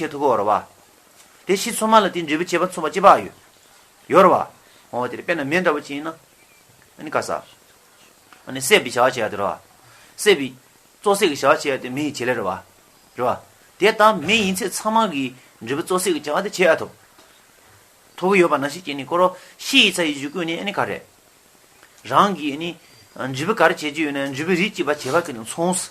བྱེད་ཐུབ་བོ། རེད་བ། དེ་ཕྱིས་ཚོང་མ་ལ་དེའི་འབྲས་བུ་བྱེད་པ་མཚུངས་པ་ཅི་བག་ཡོད། ཡོད་རེད་བ། འོ་དེ་རེད་དཔེར་ན་མེ་འདྲ་བོ་ཅིག་ཡིན་ན། ཨ་ནི་ཀ་ས། ཨ་ནི་བསད་པའི་བྱ་བ་བྱེད་ཡ་དེ་རེད་བ། བསད་པའི། བཙོ་བསྲེག་གི་བྱ་བ་བྱེད་ཡ་དེ་མེ་ཡི་བྱེད་ལས་རེད་བ། རེད་བ། དེ་ལྟ་མེ་ཡིན་ཚད་ཚང་མ་གི་འབྲས་བུ་བཙོ་བསྲེག་གི་བྱ་བ་དེ་བྱེད་ཡ་ཐུབ། ཐུབ་ཡོད་པ་ན་ཤི་སྐྱེ་ནི་འཁོར་རོ། ཤི་ཡི་ཚ་ཡི་གཞུག་གུ་ནི་ཨ་ནི་ཀ་རེད། རང་གི་ཨ་ནི། འབྲས་བུ་ག་རེ་བྱེད་རྒྱུ་ཡོད་ན་འབྲས་བུའི་རིགས་ཀྱི་བ་བྱེད་པ་གི་ནི་མཚུངས།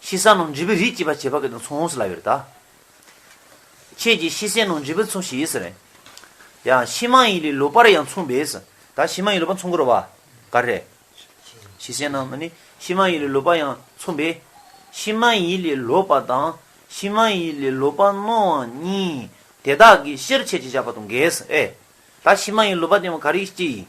ཤི་ས་ནང་འཇིབ་པའི་རིགས་སྐྱེས་པ་བྱེད་པ་གི་དང་མཚུངས་ཡོངས་སུ་ལ་ཡོད་དཱ། ཁྱེད་ཀྱིས་ཤི་སའི་ནང་འཇིབ་པའི་མཚུངས་ཤིས་སུ་རེད། ཡང་ཤི་མ་ཡིན་ལས་ལོ་པར་ཡང་མཚུངས་པས་སུ་དཱ་ཤི་མ་ཡིན་ལོ་པར་མཚུངས་དགོས་རོ་བ་ག་རེད། ཤི་སའི་ནང་ནི་ཤི་མ་ཡིན་ལས་ལོ་པར་ཡང་མཚུངས་པས། ཤི་མ་ཡིན་ལས་ལོ་པར་དང་ཤི་མ་ཡིན་ལས་ལོ་པར་སྣང་བ་གཉིས་དེ་དག་གི་ཤེར་ཕྱེད་ཅིག་བཞག་པ་དང་འགལ་སུ་ཨེ། དཱ་ཤི་མ་ཡིན་ལོ་པར་བསྟན་བ་ག་རིགས་ཀྱིས་ཡིན།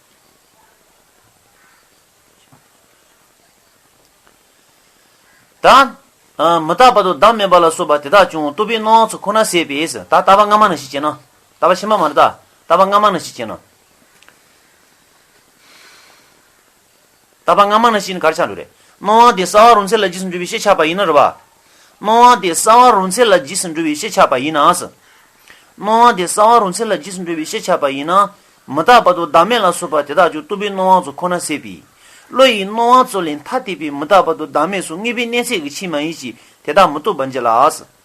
དང། མི་རྟག་པ་དང་བདག་མེད་པ་ལ་སོགས་པ་དེ་དག་ཀྱང་རྟོག་པའི་སྣང་བ་ཚོགས་ཁོ་ན་ཟད་པས་ད་ལྟ་བ་སྔ་མ་ན་ཞིག་ཅེ་ན། ད་བ་ཕྱི་མ་མ་རེད་ད། ད་བ་སྔ་མ་ན་ཞིག་ཅེ་ན། ད་པ་སྔ་མ་ན་བཞིན་གར་ཆག་འགྲོ་རེད། སྣང་བ་དེ་གསལ་བ་རུང་ཚད་ལ་རྗེས་སུ་འགྲུབ་པའི་ཤེས་ཆགས་པ་ཡིན་ནོ་རེད་བ། སྣང་བ་དེ་གསལ་བ་རུང་ཚད་ལ་རྗེས་སུ་འགྲུབ་པའི་ཤེས་ཆགས་པ་ཡིན་ན། སྣང་བ་དེ་གསལ་བ་རུང་ཚད་ལ་རྗེས་སུ་འགྲུབ་པའི་ཤེས་ཆགས་པ་ཡིན་ན། མི་རྟག་པ་དང་བདག་མེད་ལ་སོགས་པ་དེ་དག་ཀྱང་རྟུལ་པོའི་སྣང་བ་ཚོ་ཁོ་ན་སེལ་བས། བློ་ཡི་སྣང་བ་ཚོ་ལས་མཐའ་གཏད་པའི་མི་རྟག་པ་དང་བདག་མེད་སོགས་ངེས་པའི་གནས་ཚད་ཀྱི་ཕྱིར་མ་ཡིན་གྱི་དེ་དག་མི་རྟོགས་པ་འབྱེད་ལ།